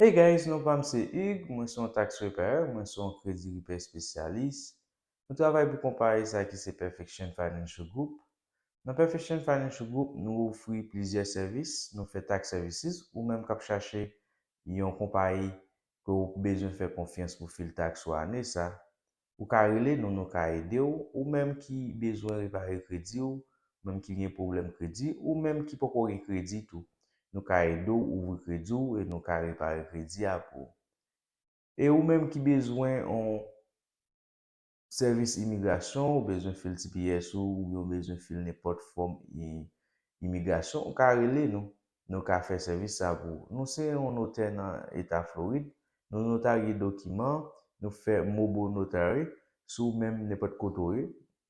Hey guys non pam se Hugues mwen se yon tax preparer mwen se yon kredi repair espesyalis nou travay pou konpayi sa ki se perfection financial group nan perfection financial group nou ofri plizyè sèvis nou fè tax services ou menm kap chache yon konpayi ke ou bezwen fè konfyans pou fil tax ou ane sa Ou ka rele nou nou ka ede w, ou menm ki bezwen repare kredi w, ou menm ki gen pwoblèm kredi, ou menm ki poko gen kredi tou. Nou ka ede w ouvri kredi w e nou ka repare kredi a pou ou. E ou menm ki bezwen yon sèvis imigrasyon, ou bezwen fil tps ou oubyen ou bezwen fil nenpòt fòm imigrasyon, ou ka rele nou. nou ka fè sèvis sa pou ou. Nou se yon notè nan Eta Florid, nou notarye dokiman, nou fè mobile notary sou ou menm nenpòt kote ou ye,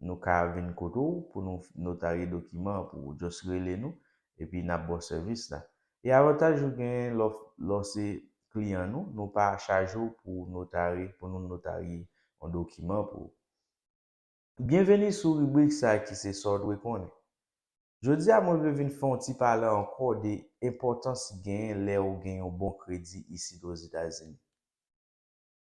nou ka vin kote ou pou nou notarye dokiman an pou ou. Just rele nou epi n ap ba w sèvis la. E avantaj ou genyen lè w se kliyan nou, nou pa chaje w pou notary, pou nou notarye yon dokiman pou ou. Byenveni sou ribrik sa ki se sa w dwe konnen. Jodi a mwen vle vin fè yon ti pale ankò de enpòtans ki genyen lè ou gen yon bon kredi isit Ozetazini.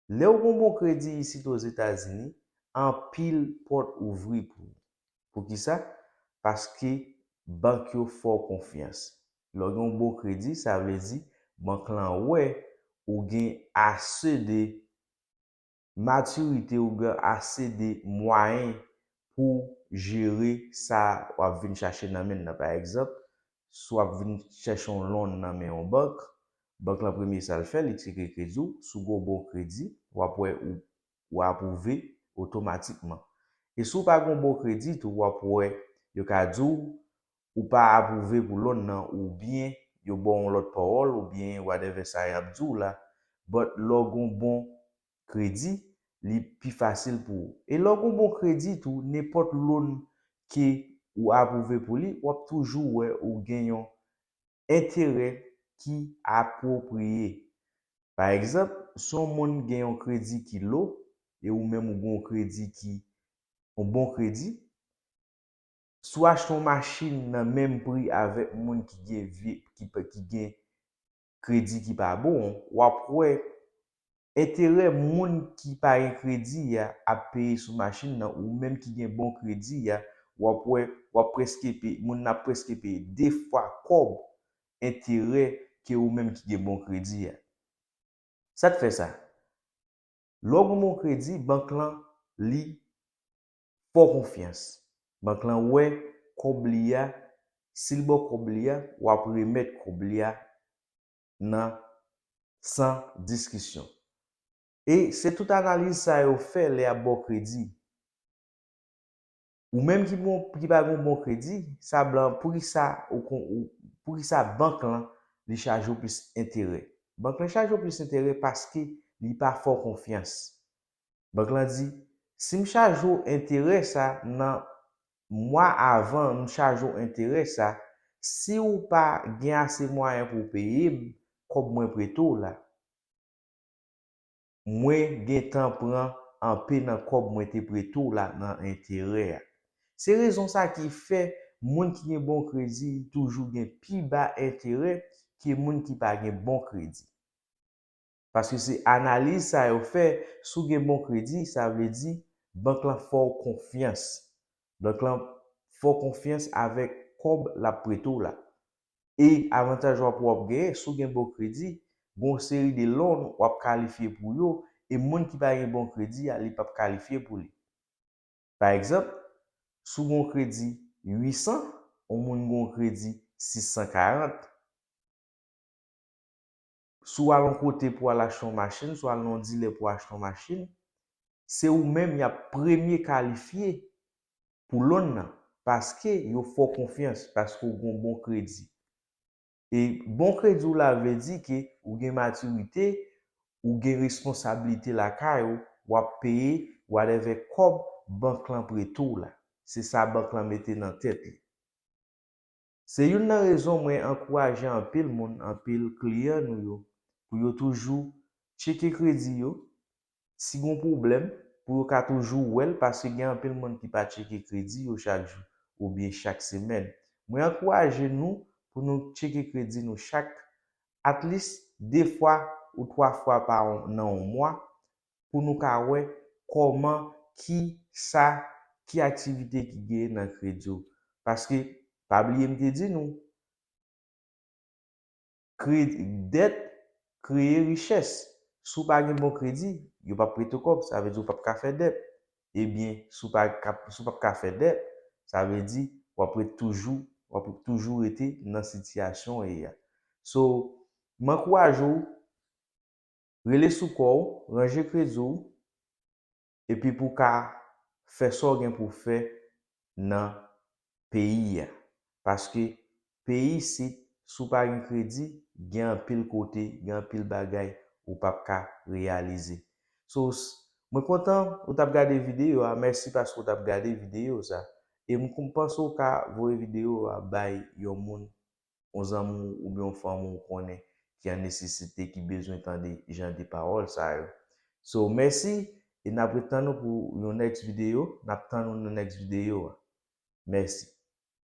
Lè ou gen yon bon kredi isit Ozetazini, anpil pòt ouvri pou ou. Poukisa? Paske bank yo fè w konfyans. Lè w gen yon bon kredi, sa vle di bank lan wè ou gen ase de matirite ou gen ase de mwayen pouw jere sa wap vin chache nan menl nan pa egzanp si wap vin chèche yon lon nan men yon bank bank lan premye sal fè li tcheke kredi w si w gen yon bon kredi wap wè ou ou apwouve otomatikman e si w pa gen yon bon kredi tou wap wè yo ka diw ou pa aprouve pou lòn nan ou byen yo baw yon lòt pawòl ou byen whatever sa yap diw la but lèw gon bon kredi li pi fasil pou ou e lèw gon bon kredi tou nenpòt lòn ke ou aprouve pou li wap toujou wè ou gen yon enterè ki apwopriye pa egzanp si yon moun gen yon kredi ki low e ou menm ou gon kredi ki yon bon kredi. Si w achte yon machin nan menm pri avèk moun ki gen vye ki gen kredi ki pa bon, w ap wè enterè moun ki pa gen kredi a ap peye sou machin nan ou menm ki gen bon kredi a w ap wè w ap prèske peye moun nan ap prèske peye 2 fwa kòb enterè ke ou menm ki gen bon kredi a. Sa k fè sa? Lè w gen bon kredi bank lan li Fo konfyans. Bank lan wè kòb li a, si l ba w kòb li a, w ap remèt kòb li a nan san diskisyon. E se tout analiz sa yo fè lè y ap ba w kredi. Ou menm ki gen yon, ki pa gen yon bon kredi, sa blan an, poukisa ou kon, poukisa bank lan li chaje w plis enterè? Bank lan chaje w plis enterè paske li pa fè w konfyans. Bank lan di, Si m chaje w enterè sa nan mwa avan m chaje w enterè sa, si w pa gen ase mwayen pou w peye m kòb mwen prete w la, mwen gen tan pran anpe nan kòb mwen te prete w la nan enterè a. Se rezon sa ki fè moun ki gen bon kredi toujou gen pi ba enterè ke moun ki pa gen bon kredi. Paske se analiz sa yo fè, si w gen bon kredi, sa vle di bank lan fè w konfyans. Bank lan fè w konfyans avèk kòb l ap prete w la. E avantaj w ap wè w ap genyen, si w gen bon kredi, gen yon seri de lon w ap kalifye pou yo, e moun ki pa gen bon kredi a, li p ap kalifye pou li. Pa egzanp, si w gen yon kredi 800, yon moun gen yon kredi 640, Si w al yon kote pou w al achte yon machin, si w al nan yon dilè pou w achte yon machin, se ou menm y ap premye kalifye pou lon nan paske yo fè w konfyans, paske ou gen yon bon kredi. E bon kredi w la vle di ke ou gen matirite, ou gen responsablite lakay ou, w ap peye whatever kòb bank lan prete w la. Se sa bank lan mete nan tèt li. Se youn nan rezon mwen ankouraje anpil moun, anpil kliyan nou yo pou yo toujou tcheke kredi yo, si gon pwoblèm, pou yo ka toujou wè l paske gen anpil moun ki pa tcheke kredi yo chak jou oubyen chak semèn. Mwen ankouraje nou pou nou tcheke kredi nou chak at least 2 fwa ou 3 fwa pa nan on mwa pou nou ka wè kòman ki sa ki aktivite ki gen nan kredi w paske pa bliye m te di nou kredi dèt kreye richès si w pa gen bon kredi yo p ap prete w kòb sa vle di w p ap ka fè dèt ebyen si w p ap ka fè dèt sa vle di w ap ret toujou w ap toujou rete nan sitiyasyon w ye a so m ankouraje w Rele sou kò w, ranje kredi w epi pou w ka fè sa w gen pou w fè nan peyi a. Paske peyi isit, si w pa gen kredi, gen anpil kote, gen anpil bagay ou p ap ka reyalize. So, mwen kontan ou t ap gade videyo a. Mèsi paske ou t ap gade videyo sa. E m panse ou ka voye videyo a bay yon moun yon zanmi w oubyen yon fanmi w konnen ki an nesesite ki bezwen tande jan de pawòl sa yo. So mèsi e nap ret tann ou pou yon next video, nap tann ou nan next video a. Mèsi.